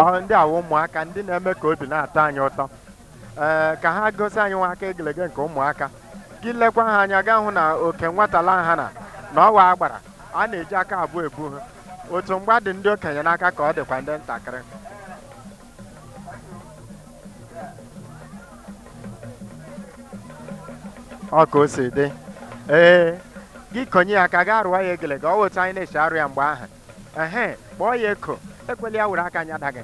ọhụ ndị a wụ ụmụaka ndị na-eme ka obi na-atọ anyị ụtọ ee ka ha gosi anyị nwa aka egelege nke ụmụaka gị lekwa ha anya ị ga-ahụ na oke nwatala ha na na ọ wụ agbara a na-eji aka abụọ ebu ha otu mgba dị ndị okenye n'aka ka ọ dịkwa ndị ntakịrị ọ ka o si dị ee gị konye ya aka gaa rụọ ya egelege ọ wụ otu anyị na-esi arụ ya mgbe ahụ ehe kpọọ ya eko ekweli ya were aka nyada gị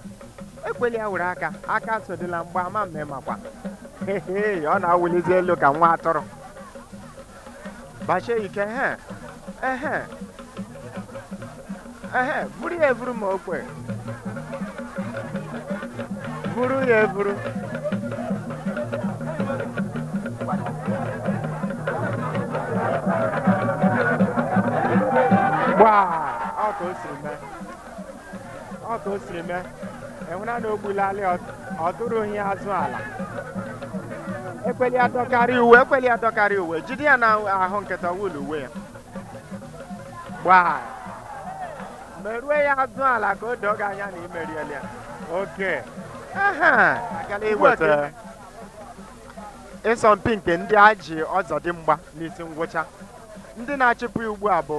ekweli ya were aka aka sodila mgba ama mme makwa Hehe, ọ na-awụlizi elu ka nwa atụrụ gbasie ike ehe ehe ehe buru ya eburu ma o kwe buru ya eburu gbaa ọ ka o siri mee ọ ka o siri mee enwena na ogbulali ọ tụrụ ya azụ ala ekweli ya dọkarị uwe ekweli ya dọkarị uwe jide ya n'ahụ nkịtị wul uwe ya gbaa merue ya azụ ala ka o doo gị anya na i meriela ya oke aha agala iweta ịsọmpi nke ndị a ji ọzọdimgba n'isi ngwụcha ndị na-achịpụ ya ugbu a bụ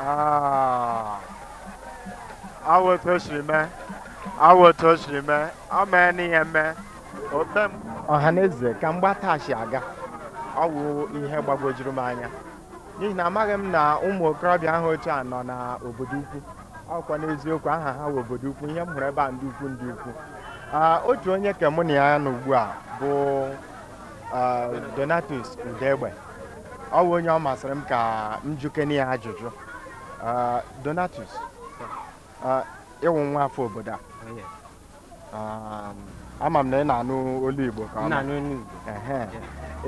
Ah. ọ wụ otu o siri mee ọ wụ otu o siri mee ọ mee n'ihe mee ote m ọha na eze ka mgba taa si aga ọ wụ ihe gbagwojuru m anya n'ihi na amaghị m na ụmụ okorobịa ha otu a nọ na obodo ukwu ọkwa n'eziokwu aha ha wụ obodo ukwu ihe m hụrụ ebe a ndị ukwu ndị ukwu Ah, otu onye ka mụ na ya nọ ugbu a bụ Donatus Udegbe ọ wụ onye ọ masịrị m ka m jụkene ya ajụjụ Donatus ị wụ nwa afọ obodo a um, ama m na ị na-anụ olu Igbo ka ọ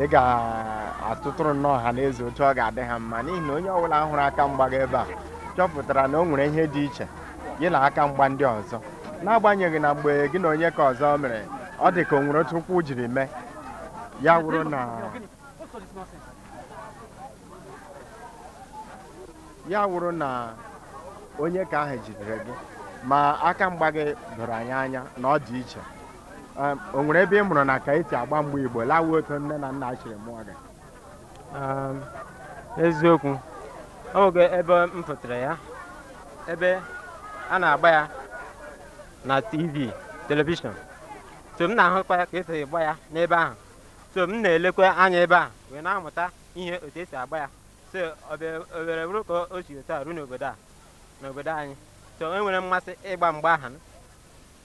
ị ga-atụtụrụ nnọọ ọha na eze otu ọ ga-adị ha mma n'ihi na onye ọbụla hụrụ aka mgba gị ebe a chọpụtara na o nwere ihe dị iche gị na aka mgba ndị ọzọ n'agbanyeghị na mgbe gị na onye ka ọzọ mere ọ dị ka o nwere otu ụkwụ jiri mee ya wụrụ na ya wụrụ na onye ka ahụ jidere gị ma aka mgba gị doro anyị anya na ọ dị iche Em, o nwere ebe ị mụrụ na ka esi agba mgba Igbo la ọ wụ otu nne na nna siri mụọ gị n'eziokwu ọ nweghị ebe m mụtara ya ebe a na-agba ya na tv telivishọn so m na-ahụkwa ya ka esi agba ya n'ebe ahụ so m na-elekwa anya ebe ahụ wee na-amụta ihe otu esi agba ya so o were bụrụ ka o si otu a ruo n'obodo a n'obodo anyị so enwere m mmasị ịgba mgba ahụ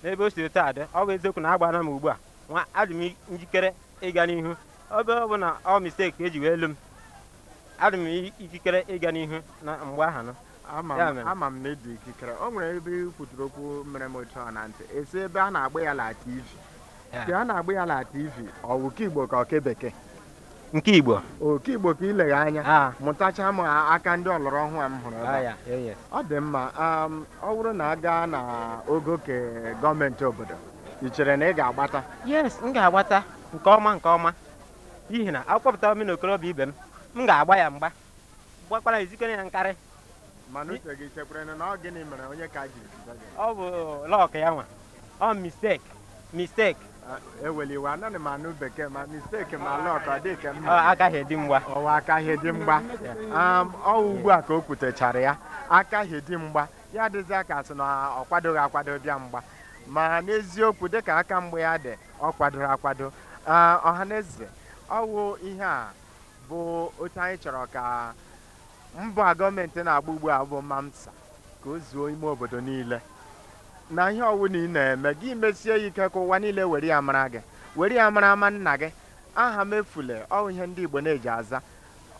n'ebe o si otu a dị ọ bụ eziokwu na agbana m ugbu a nwa adị m njikere ịga n'ihu ebe ọ bụ na ọ mistake ka eji wee elu m adị m ikikere ịga n'ihu na mgba ahụ nụ ama m na ịdị ikikere o nwere ebe ị kwuturu okwu mere m otu a na ntị ị sị ebe a na-agba ya la tv Ya. ke a na-agba ya la tv ọ wụ ke igbo ka ọ ke bekee nke igbo ọ ke igbo ka ilegha anya Ah. mụtacha m aka ndị ọlọrọ ọhụụ a m hụrụ ebe a. Ah, ya, eh, yes. ọ dị mma um, ọ bụrụ na a gaa na ogo ke gọọmenti obodo ị chere na ị ga-agbata yes m ga-agbata nke ọma nke ọma n'ihi na akpọpụtara m na okorobịa ibe m m ga-agba ya mgba gbakwara izikere ya nkarị mana uche gị chekwere na ọ gịnị mere onye ka ji ziga gị ọ bụ luck ya nwa ọ mistake mistake ewela iwe anaghị m anụ bekee ma mistake ma luck ọ dị ka mma ọ aka hie di mgba ọwụ aka hie di mgba Um, ọ wụ ugbu a ka o kwutechara ya aka hie di mgba ya adịzie ka a sị na ọ kwadoghị akwado bịa mgba ma n'eziokwu dịka aka mgba ya dị ọ kwadoro akwado Ah, ọhaneze ọ wụ ihe a bụ otu anyị chọrọ ka mbọ a gọọmenti na-agba ugbu a bụ mamsa ka o zuo ime obodo niile na ihe ọwụla ị na-eme gị mesie ya ike ka ụwa niile were ya mara gị were ya mara ama nna gị aha m efule ọwụ ihe ndị Igbo na-eji aza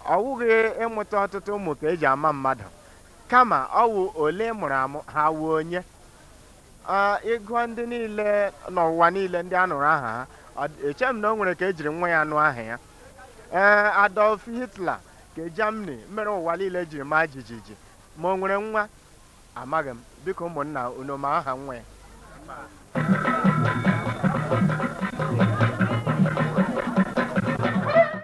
ọ wụghị ịmụta ọtụtụ ụmụ ka eji ama mmadụ kama ọwụ ole ị mụrụ amụ ha wụ onye Ah, ị gụọ ndị niile n'ụwa niile ndị a nụrụ aha ha ọ dị- eche m na o nwere ke ejiri nwa ya nụ aha ya ee adolf hitler nke germany mere ụwa niile jiri maa jijiji ma o nwere nwa amaghị m biko ụmụnna unu ma aha nwa ya